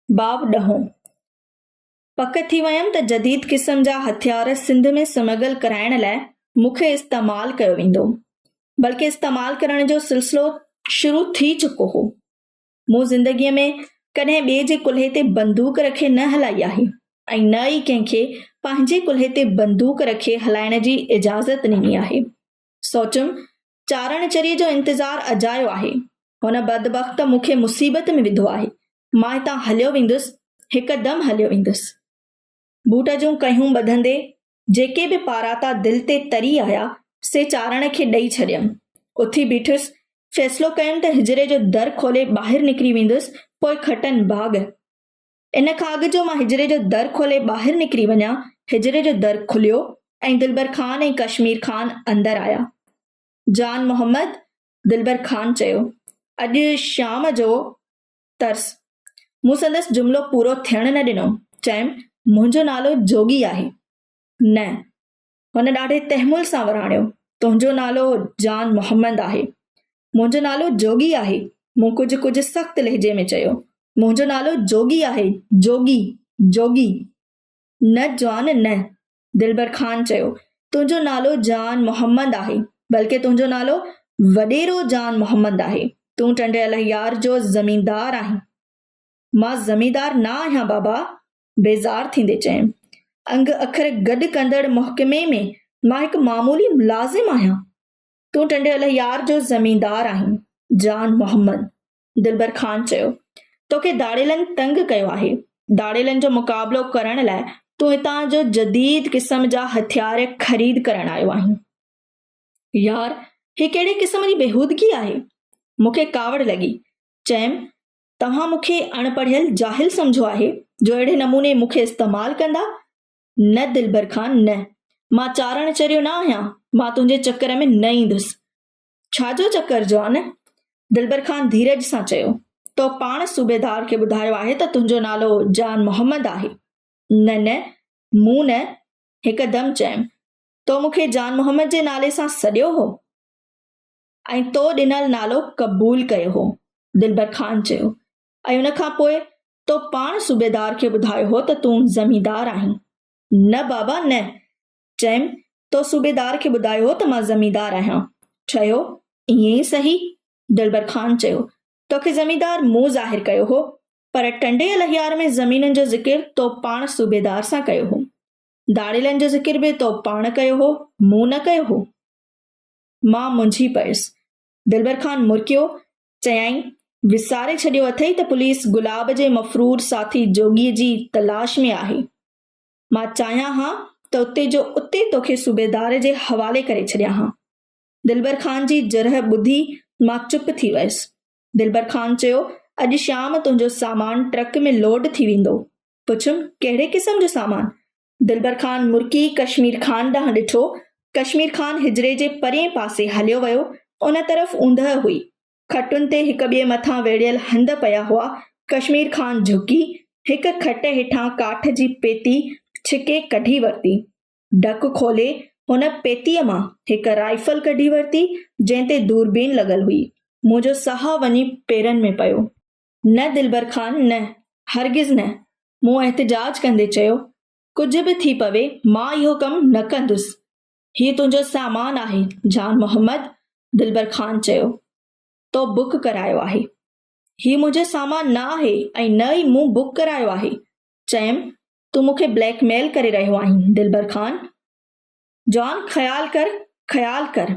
باب ڏهون، پڪ ٿي ويم ته جديد قسم جا هٿيار سنڌ ۾ سمگل ڪرائڻ لاء مون کي استعمال ڪيو ويندو، بلڪه استعمال ڪرڻ جو سلسلو شروع ٿي چڪو هو. مون زندگيء ۾ ڪڏهن ٻئي جي ڪلهي تي بندوق رکي نه هلائي آهي ۽ نه ئي ڪنهن کي پنهنجي ڪلهي تي بندوق رکي هلائڻ جي اجازت ڏني آهي. سوچيم چارڻ چريء جو انتظار اجايو آهي. هن بدبخت مون کي مصيبت ۾ وڌو آهي. مان هتان هليو ويندس، هڪ دم هليو ويندس. بوٽ جون ڪهيون ٻڌندي جيڪي به پاراتا دل تي تري آيا، سي چارڻ کي ڏئي ڇڏيم. اٿي بيٺس، فيصلو ڪيم ته حجري جو در کولي ٻاهر نڪري ويندس، پوء کٽن ڀاڳ. ان کان اڳ جو مان حجري جو در کولي ٻاهر نڪري وڃان، حجري جو در کليو ۽ دلبر خان ۽ ڪشمير خان اندر آيا. جان محمد، دلبر خان چيو، اڄ شام جو ترس. مون سندس جملو پورو ٿيڻ نه ڏنو، چيم، منهنجو نالو جوڳي آهي. نه. هن ڏاڍي تحمل سان وراڻيو، تنهنجو نالو جان محمد آهي. منهنجو نالو جوڳي آهي. مون ڪجهه ڪجهه سخت لهجي ۾ چيو، منهنجو نالو جوڳي آهي، جوڳي، جوڳي. نه جان نه. دلبر خان چيو، تنهنجو نالو جان محمد آهي، بلڪه تنهنجو نالو وڏيرو جان محمد آهي. تون ٽنڊي الهيار جو زميندار آهين. مان زميندار نه آهيان بابا. بيزار ٿيندي چيم. انگ اکر گڏ ڪندڙ محڪمي ۾ مان هڪ معمولي ملازم آهيان. تون ٽنڊيل يار جو زميندار آهين. جان محمد دلبر خان چيو، توکي ڌاڙيلن تنگ ڪيو آهي. ڌاڙيلن جو مقابلو ڪرڻ لاء تون هتان جو جديد قسم جا هٿيار خريد ڪرڻ آيو آهين. يار هي ڪهڙي قسم جي بيهودگي آهي. مون کي ڪاوڙ لڳي. چيم، توهان مون کي اڻ پڙهيل جاهل سمجهو آهي جو اهڙي نموني مون کي استعمال ڪندا؟ نه دلبر خان نه. مان چارڻ چريو نه آهيان، مان تنهنجي چڪر ۾ نه ايندس. ڇا جو چڪر جوان؟ دلبر خان ڌيرج سان چيو. تو پاڻ صوبيدار کي ٻڌايو آهي ته تنهنجو نالو جان محمد آهي. نه نه، مون نه هڪدم چيم. تو مون کي جان محمد جي نالي سان سڏيو هو؟ ۽ تو ڏنل نالو قبول ڪيو هو. دلبر خان چيو، ۽ ان کان پوء تو پاڻ صوبيدار کي ٻڌايو هو ته تون زميندار آهين. نه بابا نه! چيم، تو صوبيدار کي ٻڌايو هو ته مان زميندار آهيان. چيو، ائين ئي سهي. دلبر خان چيو، توکي زميندار مون ظاهر ڪيو هو، پر ٽنڊي الهيار ۾ زمينن جو ذڪر تو پاڻ صوبيدار سان ڪيو هو. داڙيلن جو ذڪر به تو پاڻ ڪيو هو، مون نه ڪيو هو. مان منجهي پيس. دلبر خان مرڪيو، چيائين، وساري ڇڏيو اٿئي ته پوليس گلاب جي مفرور ساٿي جوڳيء جي تلاش ۾ آهي. مان چاهيان ها ته اتي جو اتي توکي صوبيدار جي حوالي ڪري ڇڏيان ها. دلبر خان جي جرح ٻڌي مان چپ ٿي ويس. دلبر خان چيو، اڄ شام تنهنجو سامان ٽرڪ ۾ لوڊ ٿي ويندو. پڇيم، ڪهڙي قسم جو سامان؟ دلبر خان مرڪي ڪشمير خان ڏانهن ڏٺو. ڪشمير خان حجري جي پرئين پاسي هليو ويو. ان طرف اوندهه هئي. کٽن تي هڪ ٻئي مٿان ويڙهيل هنڌ پيا هئا. ڪشمير خان جهڪي، هڪ کٽ هيٺان ڪاٺ جي پيتي ڇڪي ڪڍي ورتي. ڍڪ کولي، هن پيتيء مان هڪ رائفل ڪڍي ورتي، جنهن تي دوربين لڳل هئي. منهنجو ساهه وڃي پيرن ۾ پيو. نه دلبر خان نه، هرگز نه، مون احتجاج ڪندي چيو، ڪجهه به ٿي پوي مان اهو ڪم نه ڪندس، هي تنهنجو سامان آهي جان محمد، دلبر خان چيو، تو بڪ ڪرايو آهي. هي منهنجو سامان نه آهي ۽ نه ئي مون بڪ ڪرايو آهي. چيم، تون مون کي بليڪ ميل ڪري رهيو آهين دلبر خان. جان خيال ڪر، خيال ڪر.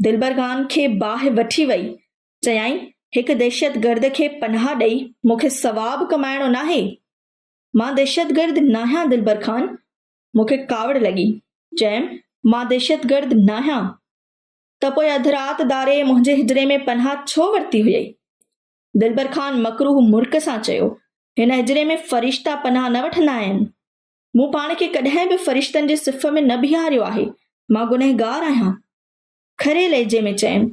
دلبر خان کي باهه وٺي وئي چيائين، هڪ دهشتگرد کي پناهه ڏئي مون کي ثواب ڪمائڻو ناهي. مان دهشتگرد ناهيان دلبر خان مون کي ڪاوڙ لڳي. چيم، مان دهشتگرد ناهيان ته پوء اڌ رات داري منهنجي حجري ۾ پناهه ڇو ورتي هئي؟ دلبر خان مڪروهه مرڪ سان چيو، هن حجري ۾ فرشتا پناهه نه وٺندا آهن. مون پاڻ کي ڪڏهن به فرشتن جي صف ۾ نه بيهاريو آهي. مان گنهگار آهيان. کري لهجي ۾ چيم،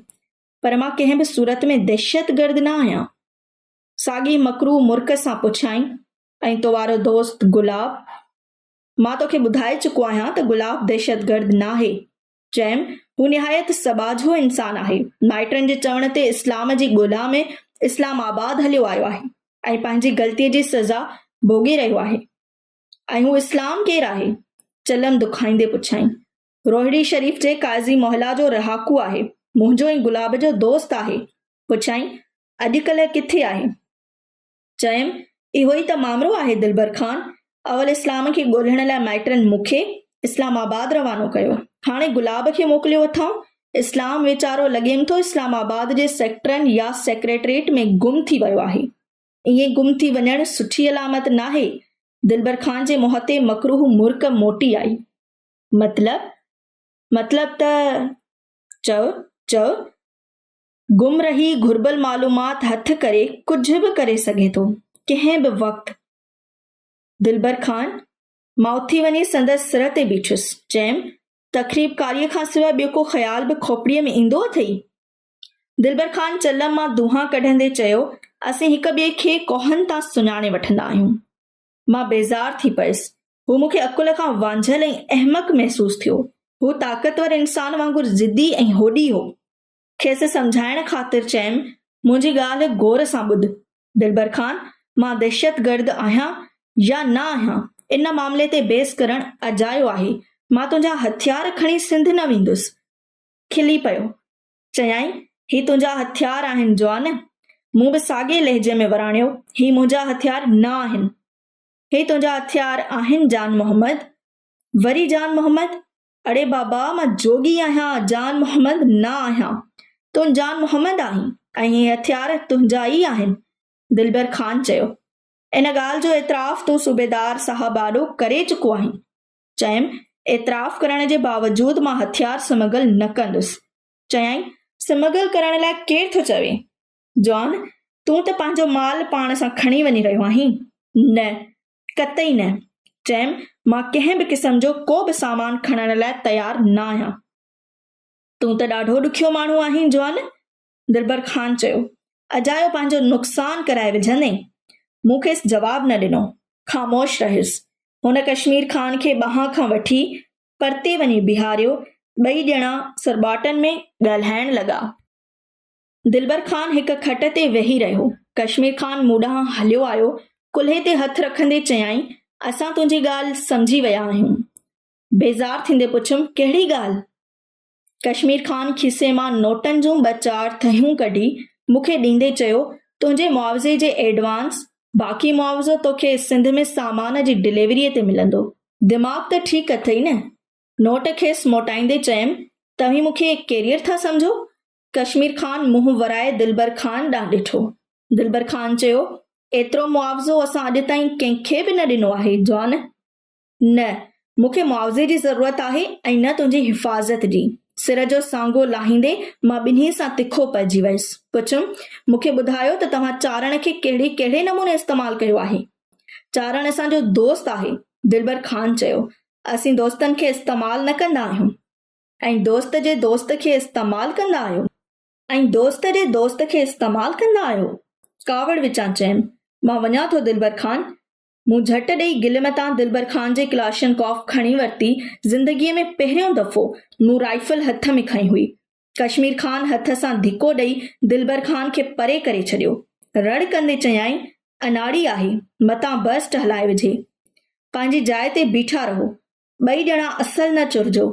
پر مان ڪنهن به صورت ۾ دهشتگرد نه آهيان. ساڳي مڪروهه مرڪ سان پڇيائين، ۽ تو وارو دوست گلاب؟ مان توکي ٻڌائي چڪو آهيان ته گلاب دهشتگرد ناهي. چيم، هو نهايت سٻاجهو انسان آهي. مائٽن جي چوڻ تي اسلام جي ڳولا ۾ اسلام آباد هليو آيو آهي ۽ پنهنجي غلطيء جي سزا ڀوڳي رهيو آهي. ۽ هو اسلام ڪير آهي؟ چلم دکائيندي پڇيائين. روهڙي شريف جي قاضي محلا جو رهاڪو آهي، منهنجو ۽ گلاب جو دوست آهي. پڇيائين، اڄڪلهه ڪٿي آهي؟ چيم، اهو ئي ته مامرو آهي دلبر خان، اول اسلام کي ڳولهڻ لاء مائٽن مون کي اسلام آباد روانو ڪيو، هاڻي گلاب کي موڪليو اٿائون، اسلام ويچارو لڳيم ٿو اسلام آباد جي سيڪٽرن يا سيڪريٽريٽ ۾ گم ٿي ويو آهي. ائين گم ٿي وڃڻ سٺي علامت ناهي، دلبر خان جي مهتي مڪروهه مرڪ موٽي آئي. مطلب مطلب ته چؤ چؤ گم رهي گهربل معلومات هٿ ڪري ڪجهه به ڪري سگهي ٿو ڪنهن به وقت دلبر خان مان اٿي وڃي سندس سر تي بيٺس چيم تخريبڪاريء کان سواء ٻيو ڪو خيال به کوپڙيء ۾ ايندو اٿئي دلبر خان چلم مان دونهان ڪڍندي چيو اسين هڪ ٻئي کي ڪوهن تان سڃاڻي وٺندا آهيون مان بيزار ٿي پيس هو مون کي عقل کان وانجهيل ۽ احمق محسوس ٿيو. هو طاقتور انسان وانگر ضدي ۽ هوڏي هو. کيس سمجهائڻ خاطر چيم، منهنجي ڳالهه غور سان ٻڌ. دلبر خان، مان دهشتگرد آهيان يا نه آهيان، ان معاملي تي بحث ڪرڻ اجايو آهي. مان تنهنجا هٿيار کڻي سنڌ نه ويندس. کلي پيو. چيائين، هي تنهنجا هٿيار آهن جوان؟ مون به ساڳئي لهجي ۾ وراڻيو، هي منهنجا هٿيار نه آهن. هي تنهنجا هٿيار آهن جان محمد؟ وري جان محمد، اڙي بابا مان جوڳي آهيان جان محمد، نه آهيان، تون جان محمد آهين ۽ هي هٿيار تنهنجا ئي آهن دلبر خان چيو، ان ڳالهه جو اعتراف تون صوبيدار صاحب آڏو ڪري چڪو آهين؟ چيم، اعتراف ڪرڻ جي باوجود مان هٿيار سمگل نه ڪندس چيائين، سمگل ڪرڻ لاء ڪير ٿو چوي؟ جان، تون ته پنهنجو مال پاڻ سان کڻي وڃي رهيو آهين؟ نه، قطعي نه. چيم، مان ڪنهن به قسم جو ڪو به سامان کڻڻ لاء تيار نه آهيان. تون ته ڏاڍو ڏکيو ماڻهو آهين جان. دلبر خان چيو. اجايو پنهنجو نقصان ڪرائي وجهندين. مون کيس جواب نه ڏنو. خاموش رهيس. هن ڪشمير خان کي ٻانهن کان وٺي پرتي وڃي بيهاريو، ٻئي ڄڻا سرٻاٽن ۾ ڳالهائڻ لڳا. دلبر خان هڪ کٽ تي ويهي رهيو. ڪشمير خان مون ڏانهن هليو آيو، ڪلهي تي هٿ رکندي چيائين، اسان تنهنجي ڳالهه سمجهي ويا آهيون. بيزار ٿيندي پڇيم، ڪهڙي ڳالهه؟ ڪشمير خان کيسي مان نوٽن جون ٻه چار ٿهيون ڪڍي مون کي ڏيندي چيو، تنهنجي معاوضي جي ايڊوانس، باقي معاوضو توکي سنڌ ۾ سامان جي ڊليوريء تي ملندو. دماغ ته ٺيڪ اٿئي نه؟ نوٽ کيس موٽائيندي چيم، توهين مون کي ڪيريئر ٿا سمجهو؟ ڪشمير خان منهن ورائي دلبر خان ڏانهن ڏٺو. دلبر خان چيو، ايترو معاوضو اسان اڄ تائين ڪنهن کي به نه ڏنو آهي، جوان! نه مون کي معاوضي جي ضرورت آهي ۽ نه تنهنجي حفاظت جي. سر جو سانگو لاهيندي مان ٻنهي سان تکو پئجي ويس. پڇيم، مون کي ٻڌايو ته توهان چارڻ کي ڪهڙي ڪهڙي نموني استعمال ڪيو آهي؟ چارڻ اسان جو دوست آهي. دلبر خان چيو، اسين دوستن کي استعمال نه ڪندا آهيون. ۽ دوست جي دوست کي استعمال ڪندا آهيو؟ ۽ دوست جي دوست کي استعمال ڪندا آهيو؟ ڪاوڙ وچان چيم، مان وڃان ٿو دلبر خان. مون جهٽ ڏيئي گلي متان دلبر خان جي ڪلاشن ڪاف کڻي ورتي، زندگيء ۾ پهريون دفعو مون رائفل هٿ ۾ کنئي هئي. ڪشمير خان هٿ سان ڌڪو ڏيئي دلبر خان کي پري ڪري ڇڏيو. رڙ ڪندي چيائين، اناڙي آهي، متان برسٽ هلائي وجهي. پنهنجي جاء تي بيٺا رهو. ٻئي ڄڻا اصل نه چرجو.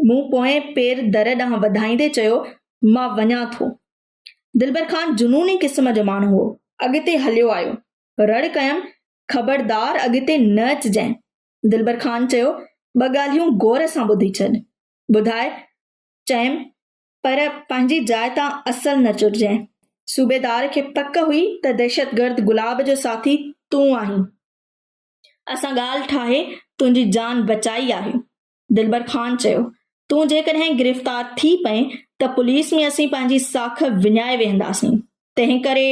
مون پوئين پير در ڏانهن وڌائيندي چيو، مان وڃان ٿو. دلبر خان جنوني قسم جو ماڻهو هو. اڳتي هليو آيو. رڙ ڪيم، خبردار اڳتي نه اچجانء. دلبر خان چيو، ٻه ڳالهيون غور سان ٻڌي ڇڏ. ٻڌاء. چيم، پر پنهنجي جاء تان اصل نه چرجانء. صوبيدار کي پڪ هئي ته دهشتگرد گلاب جو ساٿي تون آهين. اسان ڳالهه ٺاهي تنهنجي جان بچائي آهي. دلبر خان چيو، تون جيڪڏهن گرفتار ٿي پئين ته پوليس ۾ اسين پنهنجي ساک وڃائي ويهنداسين. تنهنڪري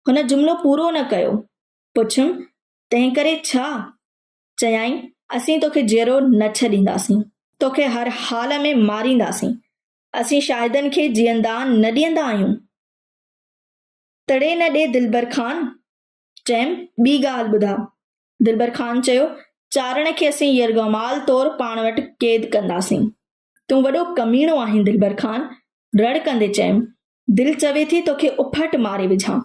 هن جملو پورو نه ڪيو. پڇيم، تنهنڪري ڇا؟ چيائين، اسين توکي جيئرو نه ڇڏينداسين. توکي هر حال ۾ مارينداسين. اسين شاهدن کي جيئندان نه ڏيندا آهيون. تڙي نه ڏي دلبر خان، ٽيم ٻي ڳالهه ٻڌاء. دلبر خان چيو، چارڻ کي اسين يرغمال طور پاڻ وٽ قيد ڪنداسين. تون وڏو ڪميڻو آهين دلبر خان! رڙ ڪندي چيم، دل چوي ٿي توکي اڦٽ ماري وجهان.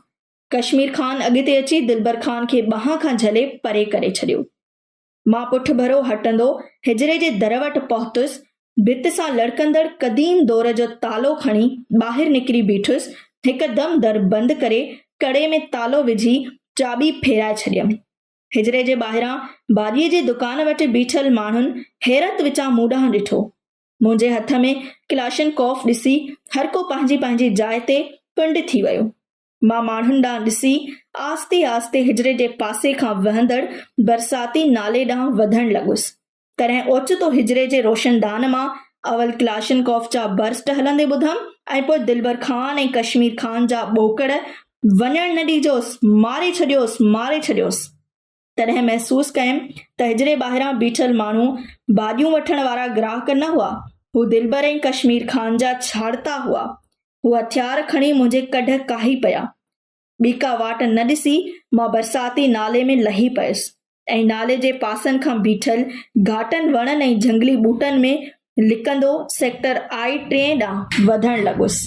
ڪشمير خان اڳتي اچي دلبر خان کي ٻانهن کان جهلي پري ڪري ڇڏيو. مان پٺڀرو هٽندو حجري جي در وٽ پهتس، ڀت سان لڙڪندڙ قديم دور جو تالو کڻي ٻاهر نڪري بيٺس، هڪدم در بند ڪري ڪڙي ۾ تالو وجهي چاٻي ڦيرائي ڇڏيم. حجري جي ٻاهران ڀاڄيء جي دڪان وٽ بيٺل ماڻهن حيرت وچان مون ڏانهن ڏٺو. منهنجي هٿ ۾ ڪلاشنڪوف ڏسي هرڪو پنهنجي پنهنجي جاء تي پنڊ ٿي ويو. مان ماڻهن ڏانهن ڏسي آهستي آهستي حجري جي پاسي کان وهندڙ برساتي نالي ڏانهن وڌڻ لڳس. تڏهن اوچتو حجري جي روشندان مان اول ڪلاشنڪوف جا برسٽ هلندي ٻڌم ۽ پوء دلبر خان ۽ ڪشمير خان جا ٻوڪڙ، وڃڻ نه ڏيجوس، ماري ڇڏيوس، ماري ڇڏيوس. تڏهن محسوس ڪيم ته حجري ٻاهران بيٺل ماڻهو ڀاڄيون وٺڻ وارا گراهڪ نه هئا، هو دلبر ۽ ڪشمير خان جا ڇاڙتا هئا. هو هٿيار کڻي منهنجي ڪڍ ڪاهي پيا. ٻيڪا واٽ نه ڏسي مان برساتي نالي ۾ لهي پيس ۽ نالي جي پاسن کان بيٺل گهاٽن وڻن ۽ جهنگلي ٻوٽن ۾ لڪندو سيڪٽر آء ٽئين ڏانهن وڌڻ لڳس.